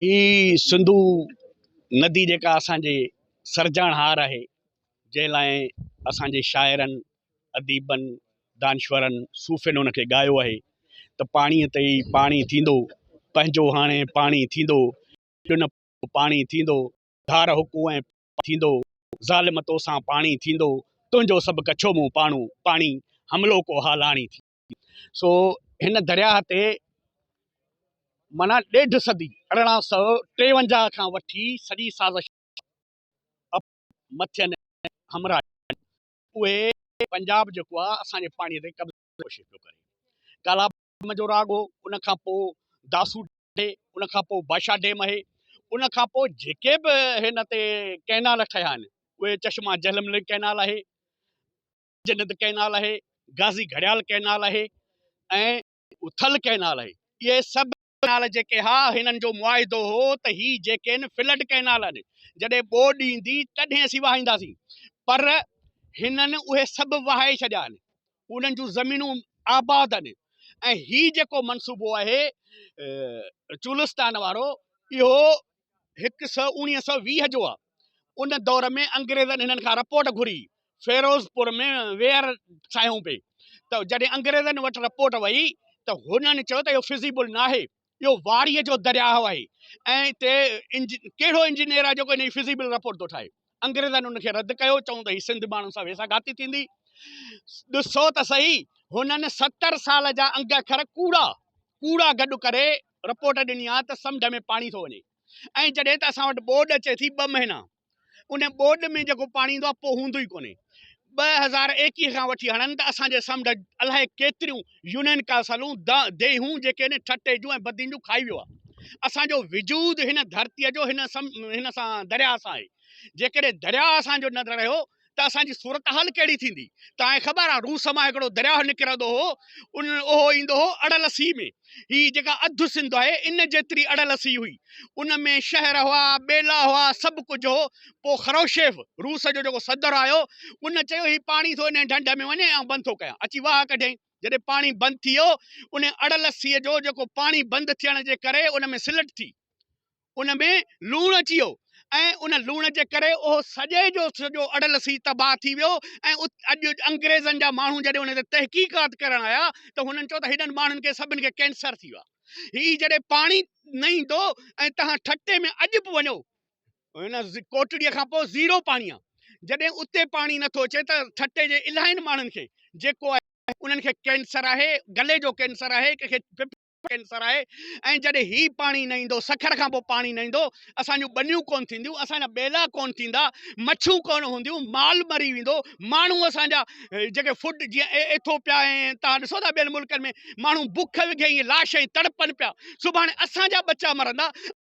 هي سنڌو ندي جيڪا اسان جي سرجڻهار آهي، جنهن لاء اسان جي شاعرن، اديبن، دانشورن، صوفين ان کي ڳايو آهي ته پاڻيء تي ئي پاڻي ٿيندو، پنهنجو هاڻي پاڻي ٿيندو، ڏنو پاڻي ٿيندو، ڌار هڪون ۽ پاڻي ٿيندو، ظالم توسان پاڻي ٿيندو، تنهنجو سڀ ڪڇو مون پاڻو پاڻي، حملو ڪو حالاڻي ٿيندو. سو هن درياهه تي معنيٰ ڏيڍ صدي ارڙهن سؤ ٽيونجاهه کان وٺي سڄي سازش مٿين همراهه جي اهي پنجاب جيڪو آهي اسان جي پاڻي تي قبضي جي ڪوشش پيو ڪري ڪالا ڊيم جو راڳ هو ان کان پوء داسو ڊيم ان کان پوء بادشاهه ڊيم اهي ان کان پوء جيڪي به هن تي ڪئنال ٺهيا آهن اهي چشما جهلم لنڪ ڪئنال آهي جنت ڪئنال آهي، غازي گهڙيال ڪئنال آهي ۽ ٿل ڪئنال آهي. اهي سڀ ڪئنال جيڪي ها هنن جو معاهدو هو ته هي جيڪي آهن فلڊ ڪئنال آهن جڏهن ٻوڏ ايندي تڏهن اسين وهائينداسين پر هنن اهي سڀ وهائي ڇڏيا آهن انهن جون زمينون آباد آهن ۽ هي جيڪو منصوبو آهي چولستان وارو اهو هڪ سؤ اوڻيهه سؤ ويهه جو آهي ان دور ۾ انگريزن هنن کان رپورٽ گهري فيروزپور ۾ وير ٺاهيون پئي ته جڏهن انگريزن وٽ رپورٽ وئي ته هنن چيو ته اهو فزيبل نه آهي اهو واريء جو درياهه آهي ۽ هتي انج... ڪهڙو انجنيئر آهي جيڪو ان جي فزيبل رپورٽ ٿو ٺاهي انگريزن ان کي رد ڪيو چون ته هي سنڌ ماڻهن سان ويسا گهاتي ٿيندي ڏسو ته صحيح هنن ستر سال جا انگ اکر ڪوڙا ڪوڙا گڏ ڪري رپورٽ ڏني آهي ته سمنڊ ۾ پاڻي ٿو وڃي ۽ جڏهن ته اسان وٽ ٻوڏ اچي ٿي ٻه مهينا ان ٻوڏ ۾ جيڪو پاڻي ايندو آهي پوء هوندو ئي ڪونهي ٻه هزار ايڪيهه کان وٺي هاڻن ته اسان جي سمنڊ الاهي ڪيتريون يونين ڪاسلون ديهون جيڪي ان ٺٽي جون ۽ بدين جون کائي ويو آهي اسان جو وجود هن ڌرتيء جو هن سان درياء سان آهي جيڪڏهن درياء اسان جو نه رهيو ته اسان جي صورتحال ڪهڙي ٿيندي؟ توهان کي خبر آهي روس مان هڪڙو درياهه نڪرندو هو، ان اهو ايندو هو اڙل سيء ۾. هي جيڪا اڌ سنڌ آهي، ان جيتري اڙل سيء هئي. ان ۾ شهر هئا، ٻيلا هئا، سڀ ڪجهه هو. پوء خروشيف، روس جو جيڪو صدر آيو، ان چيو هي پاڻي ٿو انهيء ڍنڍ ۾ وڃي، آئون بند ٿو ڪيان. اچي واهه ڪڍيائين. جڏهن پاڻي بند ٿي ويو، انهيء اڙل سيء جو جيڪو پاڻي بند ٿيڻ جي ڪري ان ۾ سلٽ ٿي، ان ۾ لوڻ اچي ويو ۽ ان لوڻ جي ڪري اهو سڄي جو سڄو اڙلسي تباهه ٿي ويو ۽ اڄ انگريزن جا ماڻهو جڏهن ان تي تحقيقات ڪرڻ آيا ته هنن چيو ته هيڏن ماڻهن کي سڀن کي ڪينسر ٿي ويو آهي هي جڏهن پاڻي نه ايندو ۽ توهان ٺٽي ۾ اڄ به وڃو هن ڪوٽڙي کان پوء زيرو پاڻي آهي جڏهن اتي پاڻي نٿو اچي ته ٺٽي جي الائن ماڻهن کي جيڪو آهي انهن کي ڪينسر آهي گلي جو ڪينسر آهي ڪنهن کي ڪينسر آهي ۽ جڏهن هي پاڻي نه ايندو سکر کان پوء پاڻي نه ايندو اسان جون ٻنيون ڪونه ٿينديون اسان جا ٻيلا ڪونه ٿيندا مڇيون ڪونه هونديون مال مري ويندو ماڻهو اسان جا جيڪي فوڊ جيئن ايٿوپيا ۽ تان ڏسو ٿا ٻين ملڪن ۾ ماڻهو بک وگهي لاش ۽ تڙپن پيا سڀاڻي اسان جا ٻچا مرندا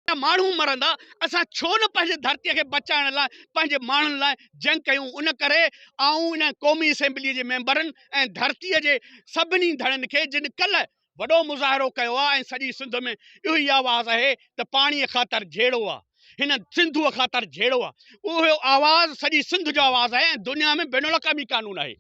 ته ماڻهو مرندا، اسان ڇو نه پنهنجي ڌرتيء کي بچائڻ لاء پنهنجي ماڻهن لاء جنگ ڪيون، ان ڪري آئون ان قومي اسيمبليء جي ميمبرن ۽ ڌرتيء جي سڀني ڌڻين کي جن ڪلهه وڏو مظاهرو ڪيو آهي ۽ سڄي سنڌ ۾ اهو ئي آواز اهي ته پاڻيء خاطر جهيڙو آ، هن سنڌوء خاطر جهيڙو آ، اهو آواز سڄي سنڌ جو آواز آهي ۽ دنيا ۾ بين الاقوامي قانون آهي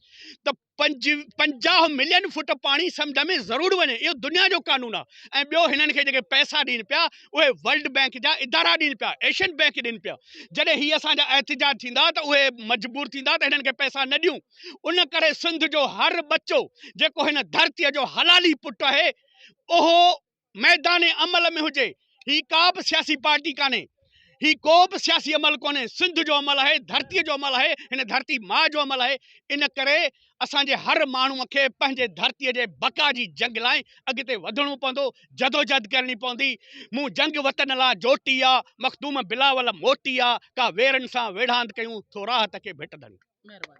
ته. پنجاهه ملين فوٽ پاڻي سمنڊ ۾ ضرور وڃي اهو دنيا جو قانون آهي ۽ ٻيو هنن کي جيڪي پئسا ڏين پيا اهي ورلڊ بئنڪ جا ادارا ڏين پيا ايشين بئنڪ ڏين پيا جڏهن هي اسان جا احتجاج ٿيندا ته اهي مجبور ٿيندا ته هنن کي پئسا نه ڏيون ان ڪري سنڌ جو هر ٻچو جيڪو هن ڌرتي جو حلالي پٽ آهي اهو ميدان عمل ۾ هجي هي ڪا به سياسي پارٽي ڪانهي هي ڪو به سياسي عمل ڪونهي سنڌ جو عمل آهي ڌرتي جو عمل آهي هن ڌرتي ماء جو عمل آهي ان ڪري اسان جي هر ماڻهو کي پنهنجي ڌرتي جي بقا جي جنگ لاء اڳتي وڌڻو پوندو جدوجهد ڪرڻي پوندي مون جنگ وطن لا جوٽي آ مخدوم بلاول موٽي آ ڪا ويرن سان ويڙهاند ڪيون ٿو راحت کي ڀٽ ڌنڊ